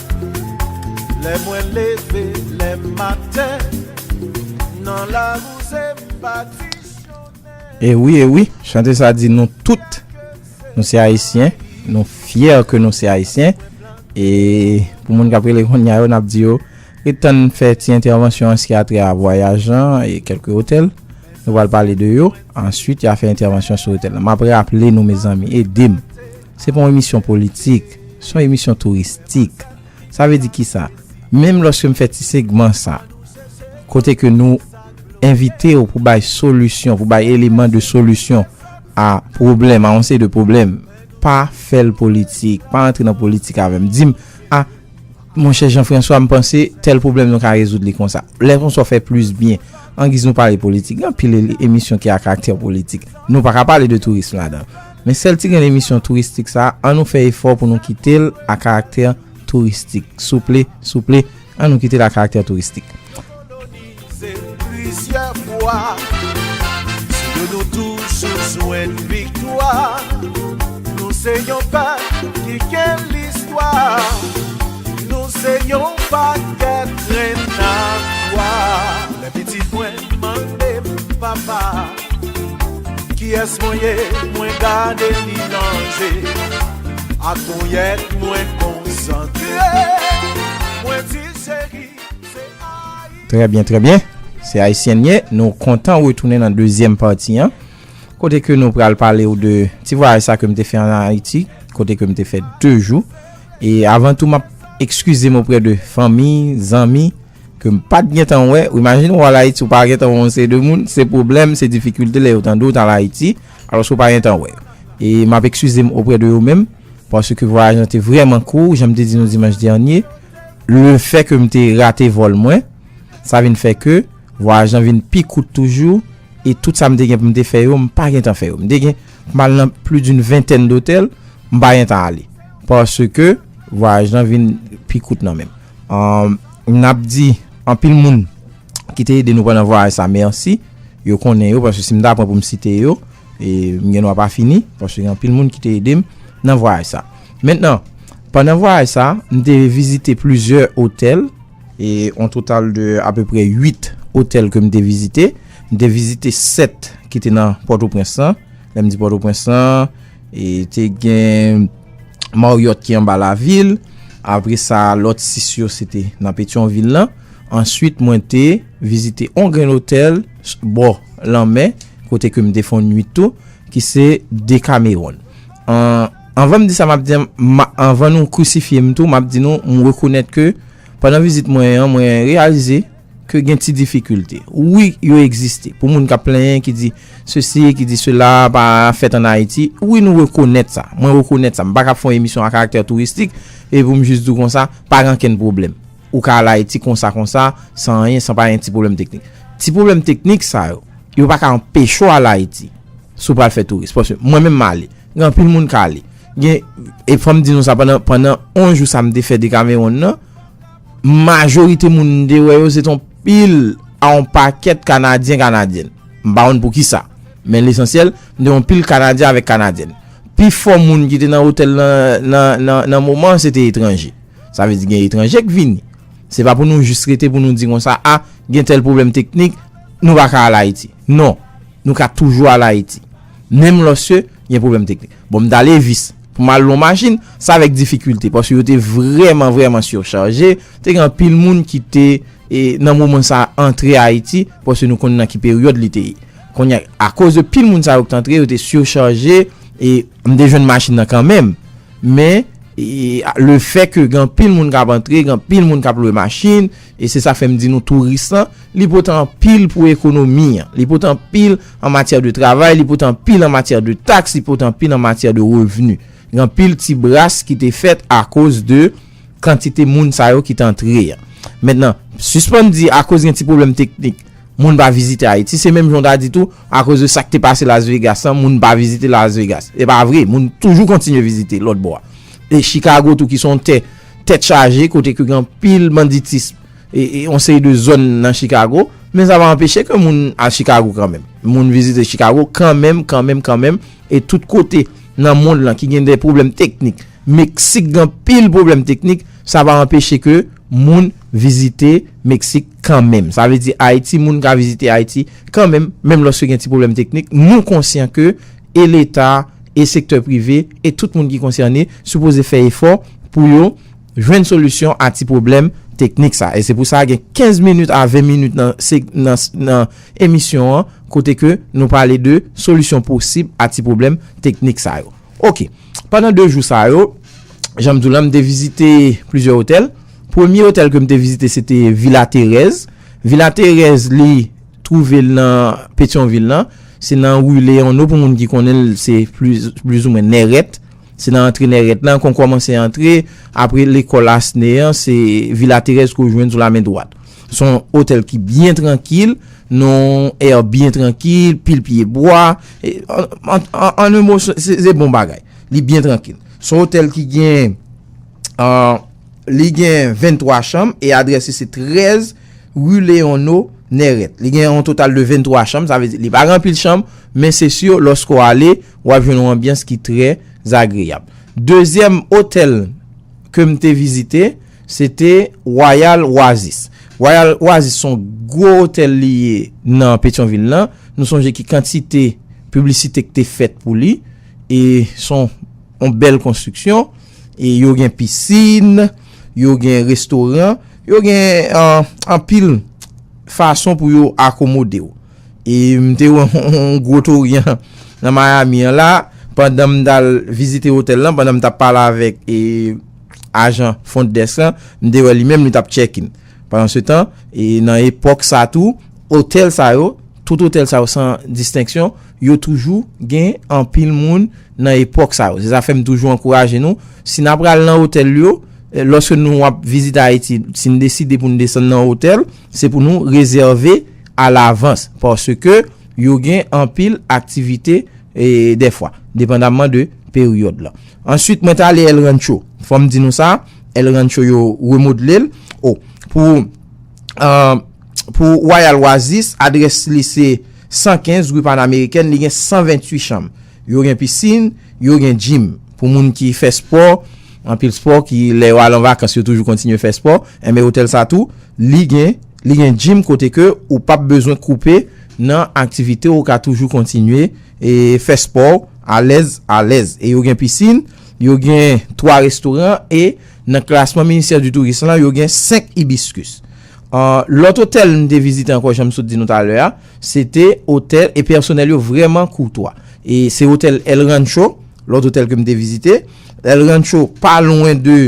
Lè mwen leve lè maten nan la wouze m pa di chonè. E wi e wi chante sa di nou tout nou se ayisyen nou fyè ke nou se ayisyen e pou moun kap rele konnya yo nap di yo ret tann fè ti entèvansyon an ski atrè a vwayaj lan e kelke otèl nou pral pale de yo answit ya fè entèvansyon sou otèl lan map raple nou mezanmi edem Se pa yon emisyon politik, se yon emisyon touristik. Sa vle di kisa? Menm lòske m fè ti segman sa, kote ke nou envite ou pou bay solisyon, pou bay eleman de solisyon a pwoblèm, a yon seri de pwoblèm, pa fè l politik, pa antre nan politik avè m. Di m, a, monchè Jean François, m panse tèl pwoblèm nou ka rezoud li konsa. Lè konsa w fè plis byen. Angiz nou pale politik, gen anpil emisyon ki a karaktè politik. Nou pa ka pale de tourism ladan l. Men sèl ti grenn emisyon touristik sa an nou fè efò pou nou kite l a karaktè touristik souple souple an nou kite l a karaktè touristik. Mande m papa kiyès mwen ye mwen gade li nan je ak ponyèt mwen konsantre mwen di cheri se Ayiti. Trè byen, trè byen. Se Ayisyèn ye. Nou kontan retounen nan dezyèm pati an kote ke nou pral pale ou de ti vwayaj sa ke m te fè an Ayiti kote ke m te fè 2 jou e avan tou m ap ekskize m oprè de fanmi, zanmi. Ke m pat gentan wè, ou imajine ou al Ayiti ou pa gentan wè yon seri de moun, se pwoblèm, se difikilte lè yo tande w t al Ayiti, alòske ou pa gentan wè yo. E m ap ekskize m oprè de yo menm, paske vwayaj lan te vrèman kou, jan m te di nou dimanch dènye, le fè ke m te rate vòl mwen, sa vin fè ke vwayaj lan vin pi kout toujou, e tout sa m te gen pou m te fè yo, m pa gentan fè yo. M te gen pou m al nan plis d'une ventèn dotèl, m pa gentan ale, paske vwayaj lan vin pi kout nan men m. Humm nap di anpil moun ki te ede nou pandan vwayaj sa mèsi yo konnen yo paske si m ta pran pou m site yo m gen dwa pa fini paske gen anpil moun ki te ede m nan vwayaj sa mentnan pandan vwayaj sa m te vizite plizyè otèl e on total de apeprè 8 otèl ke m te vizite m te vizite 7 ki te nan pòtoprens lan lè m di pòtoprens lan E te gen Marriott ki anba lavil. Apre sa lòt 6 yo se te nan Petyonvil lan. Answit mwen te vizite on grenn otèl bò lanmè kote ke m te fon nwit tou ki se Decameron. Anvan m di sa m ap di an, anvan nou krisifye m tou, m ap di nou m rekonèt ke pandan vizit mwen an mwen reyalize. Ke gen ti difikilte. Wi, yo egziste. Pou moun k ap plenyen, ki di sesi, ki di sela, pa fèt an Ayiti. Wi, nou rekonèt sa. Mwen rekonèt sa. M pa ka ap fè yon emisyon a karaktè touristik, epi pou m jis di w konsa, pa gen ankenn pwoblèm. Ou ka al Ayiti konsa konsa, san anyen, san pa gen ti pwoblèm teknik. Ti pwoblèm teknik sa yo, yo pa ka anpeche w al Ayiti, si w pral fè touris. Paske mwen menm m ale. Gen anpil moun k ale. Gen, e fò m di nou sa, pandan, pandan 11 jou sa m te fè Dekameronn nan, Majorite moun m te wè yo se t on pil a on pakèt Kanadyen Kanadyèn. M pa konn poukisa. Men lesansyèl, m te wè on pil Kanadyen avèk Kanadyèn. Pifò moun ki te nan otèl lan nan moman an se te etranje. Sa vle di gen etranje k vini. Se pa pou nou jis rete pou nou di konsa a, gen tèl pwoblèm teknik, nou pa ka al Ayiti. Non, nou ka toujou al Ayiti. menm lòske gen pwoblèm teknik. Bon m ta Levis, pou m al lon machin, se avèk difikilte, paske yo te vrèman vrèman sirchaje, te gen anpil moun ki te, e nan moman sa a, antre Ayiti, paske nou konnen nan ki peryòd li te ye. Kounye a, akoz de pil moun sa yo ki te antre, yo te sirchaje, e m te jwenn machin nan kanmenm. Men, e lefè ke gen anpil moun k ap antre, gen anpil moun k ap lwe machin, E se sa fè m di nou touris lan, li pote anpil pou ekonomi an. Li pote anpil an matyè de travay, li pote anpil an matyè de taks, li pote anpil an matyè de revni. Gen anpil ti bras ki te fèt akoz de kantite moun sa yo ki te antre an. Mentnan, sispann di akoz gen ti pwoblèm teknik, moun pa vizite Ayiti. Se menm jan w ta di tou, akoz de sa k te pase Las Vegas lan, moun pa vizite Las Vegas. Se pa vre, moun toujou kontinye vizite lòtbò a. E Chikago tou ki se yon tè tèt chaje kote ke gen anpil banditism e yon seri de zòn nan Chikago. Men sa pa anpeche ke moun al Chikago kanmenm. Moun vizite Chikago kanmenm, kanmenm, kanmenm. E tout kote nan mond lan ki gen de pwoblèm teknik. Meksik gen anpil pwoblèm teknik. Sa pa anpeche ke moun vizite Meksik kanmenm. Sa vle di Ayiti, moun ka vizite Ayiti kanmenm, menm lòske gen ti pwoblèm teknik. Nou konsyan ke. e leta, e sektè prive, e tout moun ki konsène, sipoze fè efò pou yo jwenn solisyon a ti pwoblèm teknik sa. E se pou sa gen 15 minit a 20 minit nan emisyon an kote ke nou pale de solisyon posib a ti pwoblèm teknik sa yo. Ok, pandan 2 jou sa yo, jan m di w lan, m te vizite plizyè otèl. Premye otèl ke m te vizite se te Vila Terèz. Vila Terèz li Twouve l nan Petyonvil lan. Se nan ri Leyono pou moun ki konnen l se plizoumwen Nèrèt. Se nan antre Nèrèt lan kon kòmanse antre. Apre lekòl Asne an se Vila Terèz ke w jwenn sou la men dwat. Se yon otèl ki byen trankil, nan yon èr byen trankil, pil pye bwa. An en mo se bon bagay. Li byen trankil. Se yon otèl ki gen li gen 23 chanm e adrès li se 13 Rue Léon No. Nèrèt. Li gen yon total de 23 chanm, sa vle di li pa gen anpil chanm, men se sur loske ou ale, ou ap jwenn yon anbyans ki trè zagreyab. Dezyèm otèl ke m te vizite, se te Royal Oasis. Royal Oasis se yon gwo otèl li ye nan Petyonvil lan. Nou sonje ki kantite piblisite ki te fèt pou li e se yon bèl konstriksyon. E yo gen pisin, yo gen restoran, yo gen anpil fason pou yo akomode ou. E m te wè yon gwo toryan nan Miami an la, pandan m ta l vizite otèl lan, pandan m ta pale avèk ajan front desk lan, m te wè li menm li t ap check in. Pandansetan, nan epòk sa a tou, otèl sa yo, tout otèl sa yo san distenksyon, yo toujou gen anpil moun nan epòk sa yo. Se sa fè m toujou ankouraje nou, si n apral nan otèl yo, lòske nou ap vizite Ayiti, si n deside pou n desann nan otèl, se pou nou rezève alavans, paske yo gen anpil aktivite dèfwa, depandamman de peryòd lan. Ansuit, mwen t ale El Rancho. Fò m di nou sa. El Rancho yo remodele l. O Pou Pou Royal Oasis, adrès li se 115 rue Panamericaine, li gen 128 chanm. Yo gen pisin, yo gen gym. Pou moun ki fè spò, anpil spò ki lè yo al an vakans yo toujou kontinye fè spò, enben otèl sa tou li gen li gen gym kote ke ou pap bezwen koupe nan aktivite w, ou ka toujou kontinye e fè spò w alèz alèz. E yo gen pisin. Yo gen 3 restoran e nan klasman Ministère du Tourisme lan yo gen 5 Hibiscus. Lòt otèl m te vizite ankò jan m sot di nou talè a, se te otèl e pèsonèl yo vrèman koutwa. E se otèl El Rancho, lòt otèl ke m te vizite. El Rancho pa lwen de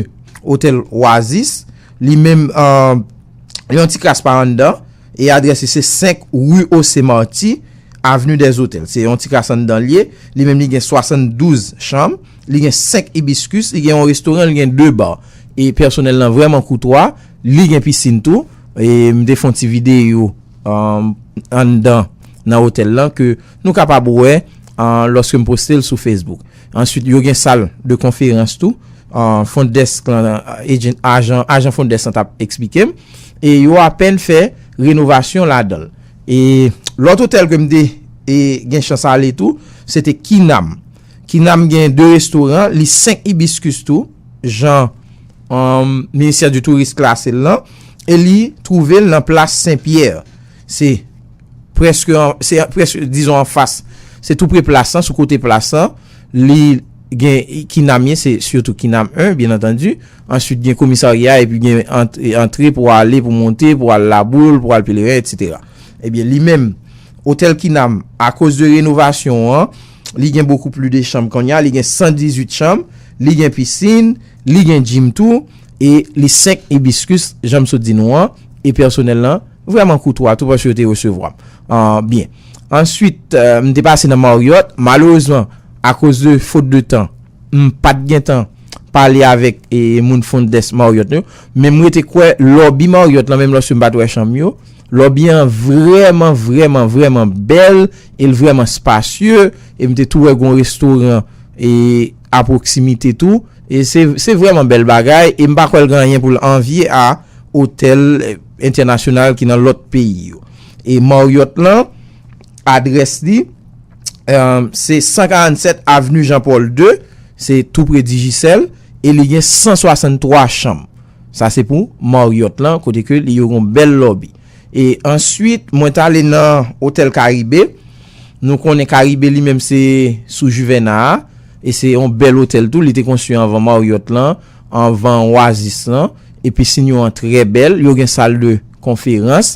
otèl Oasis, li menm yon ti kras pa anndan e adrès li se 5 rue Océ Marty. Avenue des Hôtels. Se yon ti kas anndan l ye. Li menm li gen 72 chanm. Li gen 5 hibiscus. Li gen yon restoran, li gen 2 bar. E pèsonèl lan vrèman koutwa. Li gen piscine tou. E m te fè yon ti videyo anndan nan hôtel lan ke nou kapab wè lòske m poste l sou Facebook. Answit yo gen sal de konferans tou. Front desk lan, agent, ajan, ajan front desk lan t ap eksplike m. E yo apèn fè renovasyon ladan l. E lòt otèl ke m te gen chans ale tou, se te Kinam. Kinam gen 2 restoran, li 5 hibiscus tou, jan Ministère du Tourisme klase l lan, e li twouve l nan plas Sen Pyè. Se preske, se preske, dizon an fas, se tou pre plas lan, sou kote plas lan, li gen Kinam ye, se sitou Kinam 1, byen antandu. Answit gen komisarya epi gen antre pou ale pou monte pou al laboul pou al peleren etc. Ebyen li menm Hotel Kinam akoz de renovasyon an li gen bokou pli de chanm konnya li gen 118 chanm li gen pisin li gen gym tou e li 5 hibiscus jan m sot di nou an e pèsonèl lan vrèman koutwa tou paske yo te resevwa m byen. Answit m te pase nan Marriott malerezman akoz de fot de tan. M pat gentan pale avèk moun Fond Dès Marriott yo, men m rete kwè lòbi Marriott lan, menm lòske m pat wè chanm yo, lòbi an vrèman, vrèman, vrèman bèl e l vrèman spasye e m te tou wè gon restoran a pwoksimite tou e se vrèman bèl bagay e m pa kwè l gen anyen pou l anvye a otèl entènasyonal ki nan lòt peyi yo. E Marriott lan, adrès li. se 147 avenu Jean Paul ii, se tou pre Digicel, e li gen 163 chanm. Sa se pou Marriott lan, kote ke li yo gen yon bèl lobby. E answit, mwen ta ale nan Hotel Caribe, nou konnen Caribe li menm se sou Juvena a, e se yon bèl hotel tou, li te konstwi anvan Marriott lan, anvan Oasis lan, e pisin yo an trè bèl, yo gen sal de konferans,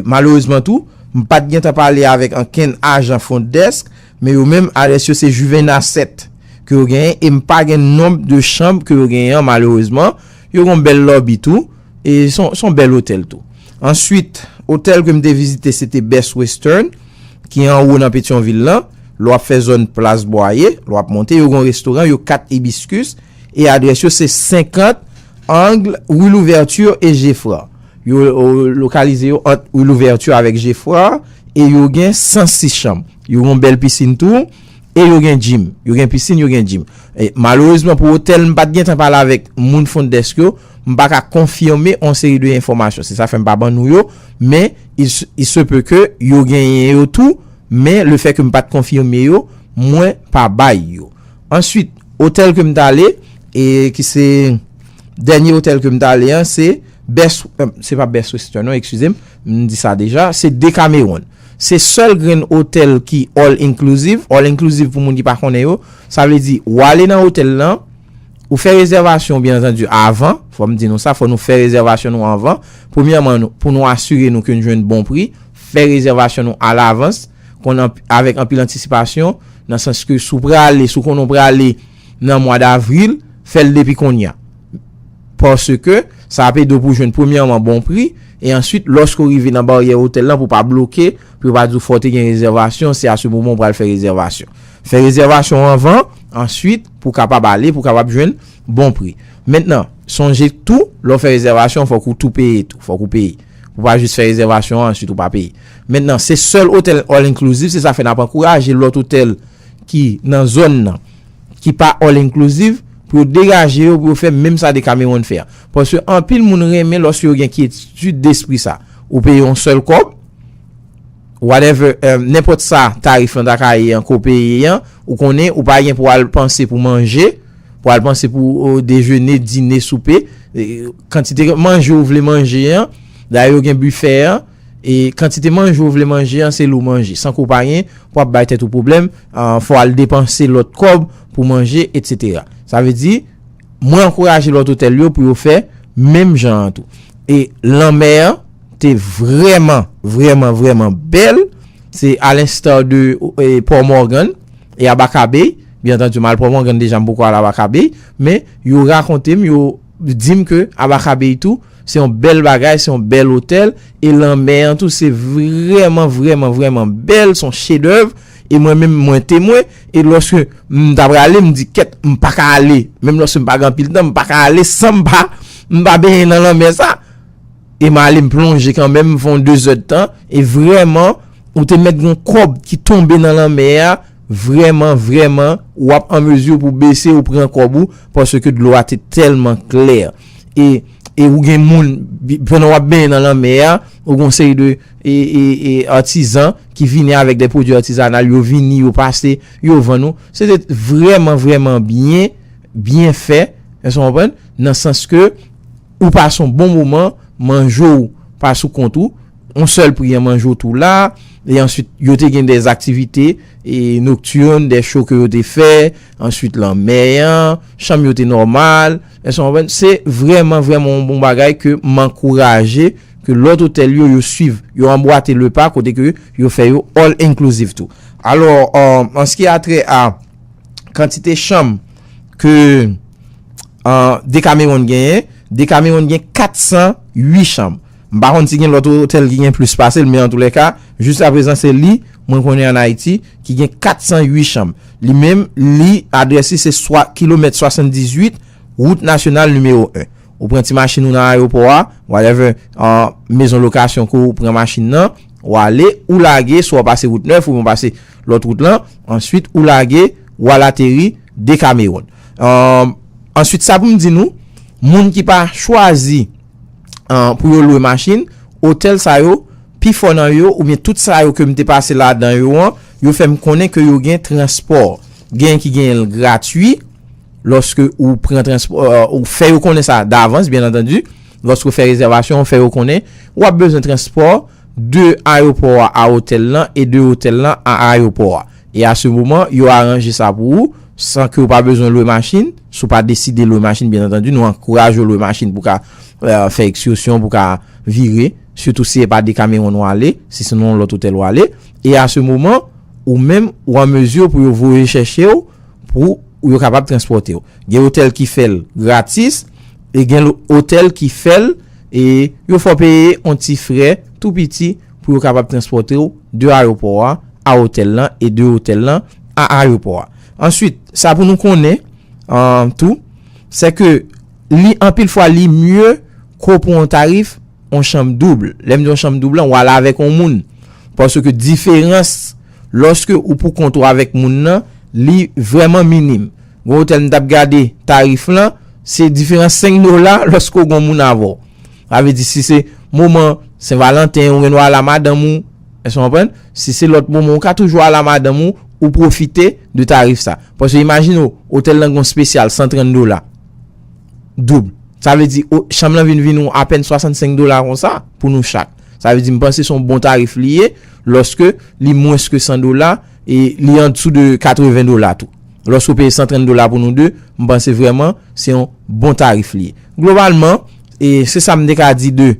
Malerezman tou, m pa t gentan pale avèk ankenn ajan Front Desk, men yo menm adrès yo se Juvena 7 ke yo genyen e m pa gen nonb de chanb ke yo genyen an malerezman. Yo gen yon bèl lòbi tou e se yon bèl otèl tou. Answit, otèl ke m te vizite se te Best Western ki anwo nan Petyonvil lan, lè w ap fè zòn Plas Bwaye, lè w ap monte, yo gen yon restoran, yo 4 Hibiscus e adrès yo se 50 angle Rue Louverture et Geffrard. Yo lokalize yo ant Rue Louverture avèk Geffrard e yo gen 106 chanm. Yo gen yon bèl pisin tou e yo gen jim. Yo gen pisin, yo gen jim. Malerezman pou otèl m pa t gen tan pale avèk moun Front Desk yo, m pa ka konfime yon seri de enfòmasyon. Se sa fè m pa ban nou yo, men il se peut que yo genyen yo tou, men le fait que m pa t konfime yo, mwen pa bay yo. Answit, otèl ke m t ale e ki se dènye otèl ke m t ale an se. Best, se pa Best Western non, eskize m, m di sa deja, se Decameron. Se sèl grenn otèl ki all inclusive, all inclusive pou moun ki pa konnen yo, sa vle di ou ale nan otèl lan, ou fè rezèvasyon byen antandi avan, fò m di nou sa, fò nou fè rezèvasyon nou avan, premyèman nou, pou nou asire nou ke nou jwenn bon pri, fè rezèvasyon nou a lavans, kon avèk anpil antisipasyon, nan sans ke si w prale, si w konnen w prale. nan mwa davril, fè l depi kounye a. Paske, sa ap ede w pou w jwenn premyèman bon pri, e answit lòske w rive nan baryè otèl lan pou w pa bloke, pou yo pa di w fò w te gen rezèvasyon, se a se moman w pral fè rezèvasyon. Fè rezèvasyon w anvan, answit, pou w kapab ale, pou w kapab jwenn bon pri. Mentnan, sonje tou, lè w fè rezèvasyon an fòk ou tou peye tou, fòk ou peye. Ou pa jis fè rezèvasyon an answit ou pa peye. Mentnan, se sèl otèl all inclusive, se sa fè n ap ankouraje lòt otèl, ki nan zòn nan, ki pa all inclusive, pou yo degaje yo pou yo fè menm sa Decameron fè a. Paske anpil moun renmen lòske yo gen kyetid despri sa. Ou peye yon sèl kòb, whatever, nenpòt sa tarif lan ta ka ye an ke w peye an, ou konnen ou pa gen pou al panse pou manje, pou al panse pou dejene, dine, soupe, kantite manje ou vle manje an, dayè yo gen bifè an, E kantite manje ou vle manje an se li w manje. San ke w pa gen, pou ap bay tèt ou pwoblèm, fò w al depanse lòt kòb pou manje, etsetera. Sa vle di, mwen ankouraje lòt otèl yo pou yo fè menm jan an tou. E lanmè an te vrèman, vrèman, vrèman bèl. Se a lensta de Port Morgan e Abaca Bay. Byen antandi, m al Port Morgan deja, m poko al Abaca Bay. Men, yo rakonte m, yo di m ke Abaca Bay tou. Se yon bèl bagay, se yon bèl otèl, e lanmè an tou se vrèman, vrèman, vrèman bèl, son chedèv, e mwen menm mwen temwen, e lòske m ta prale, m di kèt, m pa ka ale, menm lòske m pa gen anpil tan, m pa ka ale san m pa, m pa benyen nan lanmè sa, e m ale m plonje kan menm, m fè yon 2 zè de tan, e vrèman, ou te mèt yon kòb ki tonbe nan lanmè a, vrèman, vrèman, w ap an mezi pou bese ou pran kòb ou, paske dlo a te tèlman klè. e e ou gen moun pandan wap benyen nan lanmè a ou gon seri de e e e atizan ki vini avèk de pwodui atizanal yo vini yo pase yo vann ou se te vrèman vrèman byen byen fè èske ou konprann nan sans ke ou pase yon bon moman manje ou pa sou kont ou yon sèl pri an manje ou tou la e answit yo te gen de aktivite e noktirn de cho ke yo te fè answit lanmè an chanm yo te nòmal. Èske nou konprann? Se vrèman, vrèman yon bon bagay ke m ankouraje ke lòt otèl yo, yo swiv. Yo anbwate le pa kote ke yo fè yo all inclusive tou. Alò, an se ki a trè a kantite chanm ke Decameron genyen, Decameron gen 408 chanm. M pa konn si gen lòt otèl ki gen plis pase l men antoulèka, jiskaprezan se li mwen konnen ann Ayiti ki gen 408 chanm. Li menm, li, adrès li se swa, kilomèt 78, wout nasyonal nimewo 1. Ou pran ti machin ou nan ayewopò a, whatever, an, mezon lokasyon ke w pran machin nan, w ale, ou lage, swa w pase wout nèf oubyen w pase lòt wout lan, answit ou lage, w al ateri Dekamewon. An, answit sa pou m di nou, moun ki pa chwazi. pou yo lwe machin, otèl sa yo, pi fò nan yo, oubyen tout sa yo ke m te pase ladan yo an, yo fè m konnen ke yo gen transpò. Genyen ki genyen l gratui, lòske ou pran transpò, ou fè yo konnen sa davans, byen antandi, lòske ou fè rezèvasyon, ou fè yo konnen, ou ap bezwen transpò de ayopò a a otèl lan, e de otèl lan a ayopò a. E a se moman, yo aranje sa pou ou. San ke ou pa bezwen lwe machin, si ou pa deside lwe machin byen antandi, nou ankouraje ou lwe machin pou ka fè ekskursyon, pou ka vire, sitou si e pa Decameron ou ale, si se nan yon lòt otèl ou ale, e a se moman, ou menm, ou an mezi pou yo voye chèche ou, pou yo kapab transpòte ou. Gen otèl ki fè l gratis, e gen otèl ki fè l, e yo fè w peye yon ti frè tou piti, pou yo kapab transpòte w de ayewopò a a otèl lan e de otèl lan a ayewopò a. Answit, sa pou nou konnen tou, sè ke li anpil fwa li mye ke w pran yon tarif yon chanm doub. Lè m di yon chanm doub lan, w al avèk yon moun. Paske diferans lòske ou pou kont ou avèk moun nan, li vrèman minim. Gon otèl m t ap gade tarif lan, se diferans 5 dola lòske w gon moun avè w. Sa vle di si se moman sen valanten ou gen dwa al a madanm ou, èske w konprann? Si se lòt moman ou ka toujou al a madanm ou, ou pwofite de tarif sa. Paske imajine w, otèl lan gen yon spesyal 130 dola, doub. Sa vle di o, chanm lan vin vin ou apèn 65 dola konsa pou nou chak. Sa vle di m panse se yon bon tarif li ye, lòske li mwens ke 100 dola. E li an dessous de 80 dola tou. Loske ou peye 130 dola pou nou 2, m panse vreman se yon bon tarif li ye. Globalman, e se sa m te ka di de,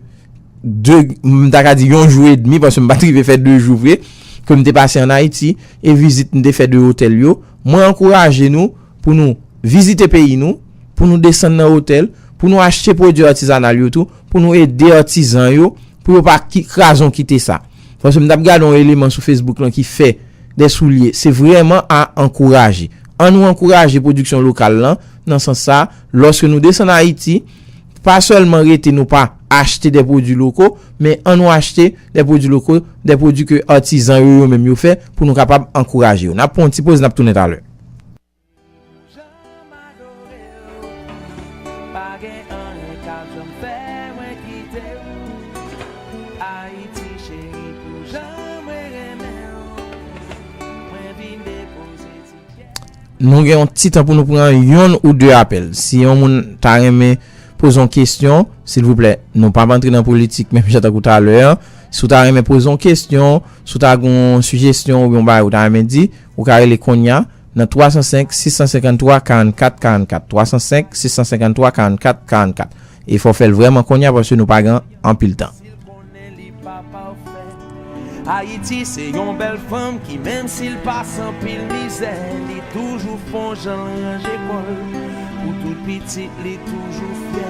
de, m ta ka di yon jou e demi, paske m pa t rive fè 2 jou vre, ke m te pase an Ayiti, e vizit m te fè de otèl yo, mwen ankouraje nou pou nou vizite peyi nou, pou nou desann nan otèl, pou nou achte pwodui atizanal yo tou, pou nou ede atizan yo. Pou yo pa krazon kite sa. Paske m t ap gade yon eleman sou Facebook lan ki fè de soulye. Se vrèman a ankouraje. An nou ankouraje pwodiksyon lokal lan, nan sans sa, lòske nou desann Ayiti, pa sèlman rete nou pa achte de pwodui loko, men an nou achte de pwodui loko, de pwodui ke atizan yo yo menm yo fè, pou nou kapab ankouraje yo. N ap pran yon ti poz, n ap tounen talè. Nou gen yon ti tan pou nou pran yon ou 2 apèl. Si yon moun ta renmen poze yon kestyon, silvouplè, nou pa antre nan politik menm jan tankou talè an. Si w ta renmen poze yon kestyon, si w ta gen yon sijestyon ou gen yon bagay ou ta renmen di, Ou ka rele konnya nan 305 653 44 44, 305 653 44 44. E fò w fè l vrèman konnya paske nou pa gen anpil tan. Ayiti se yon bèl fanm ki menm si l pase anpil mizè li toujou fon jan l ranje kò l pou tout pitit li toujou fyè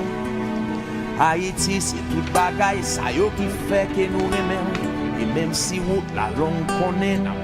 Ayiti se tout bagay sa yo ki fè ke nou renmen l e menm si wout la long konnen n ap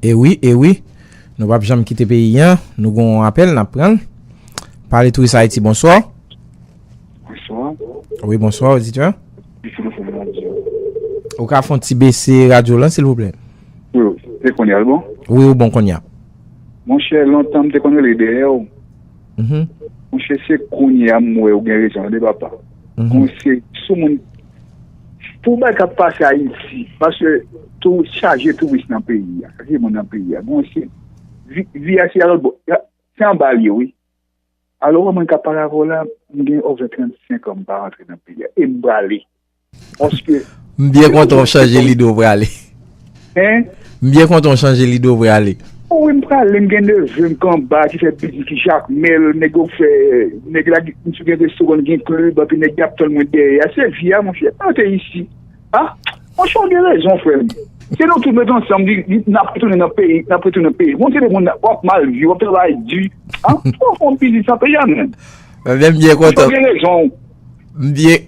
E wi, e wi, nou pap janm kite peyi an, nou gen yon apèl nap pran l. Pale Touris Haiti, bonswa. Bonswa. Wi bonswa, oditè. Ki telefon nan di yo? Ou ka fon ti bese radyo lan silvouplè. Yo, e konya l bon? Wi ou bon konya. Monchè lontan m te konn rele dèyè w. Monchè se konya m wè ou gen rezon an de papa. Pou se sou moun Pou bay kap pase ayiti Paske tou chaje tou wis nan peyi ya Chaje moun nan peyi ya Bon se Vi ya se alot bo Se anba li yo wi Alo wè mwen kap pale avè w la M gen over 35 an m pa rantre nan peyi ya E m prale Paske M byen kontan w chanje lide w prale Hein? M byen kontan w chanje lide w vre ale. O wi m prale m gen neve m k anba ki fè biznis ki jakmel nèg yo fè nèg la gen misye gen restoran li gen klib anpi nèg yap tann mwen dèyè a se vi a monchè pa rete isi a monchè w gen rezon frè m si nou tout met ansanm li nap retounen nan peyi nap retounen nan peyi bon se de moun wap mal viv wap travay di a fòk fon biznis nan peyi a menm Ebyen m byen kontan monchè w gen rezon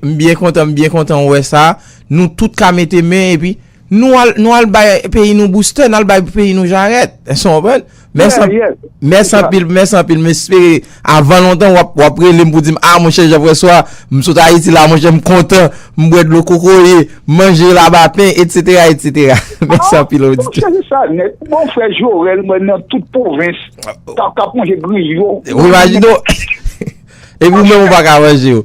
m byen kontan m byen kontan wè sa nou tout ka mete men epi Nou al nou al bay peyi nou boustè, nou al bay peyi nou jarèt. Èske w konprann? Mèsi anpil. Yè, yè. Mèsi anpil, mèsi anpil. M espere avan lontan w ap w ap rele m pou di m, a monchè Jean François, m sot Ayiti la monchè, m kontan, m bwè dlo kokoye, m manje labapen, etsetera, etsetera. Mèsi anpil Auditè. Monchè se sa nèt. Bon frè Jorèl mwen nan tout pwovens k ap k ap manje griyo. Ou imajine w? Epi ou menm ou pa ka manje yo.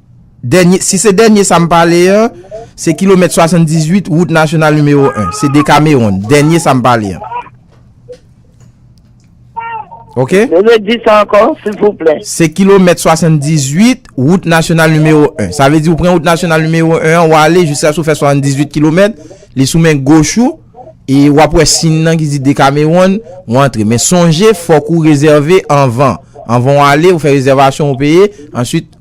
Dènye, si se dènye sa m pale an, se kilomèt 78 wout nasyonal nimewo 1. Se Decameron, dènye sa m pale an. Ok? Redi sa ankò, silvouplè. Se kilomèt 78 wout nasyonal nimewo 1. Sa vle di ou pran wout nasyonal nimewo 1 an, ou ale jiska sou fè 78 kilomèt, li sou men goch ou, e w ap wè siyn nan ki di Decameron, ou antre. Men sonje, fòk ou rezève anvan. Anvan ou ale, ou fè rezèvasyon ou peye, answit.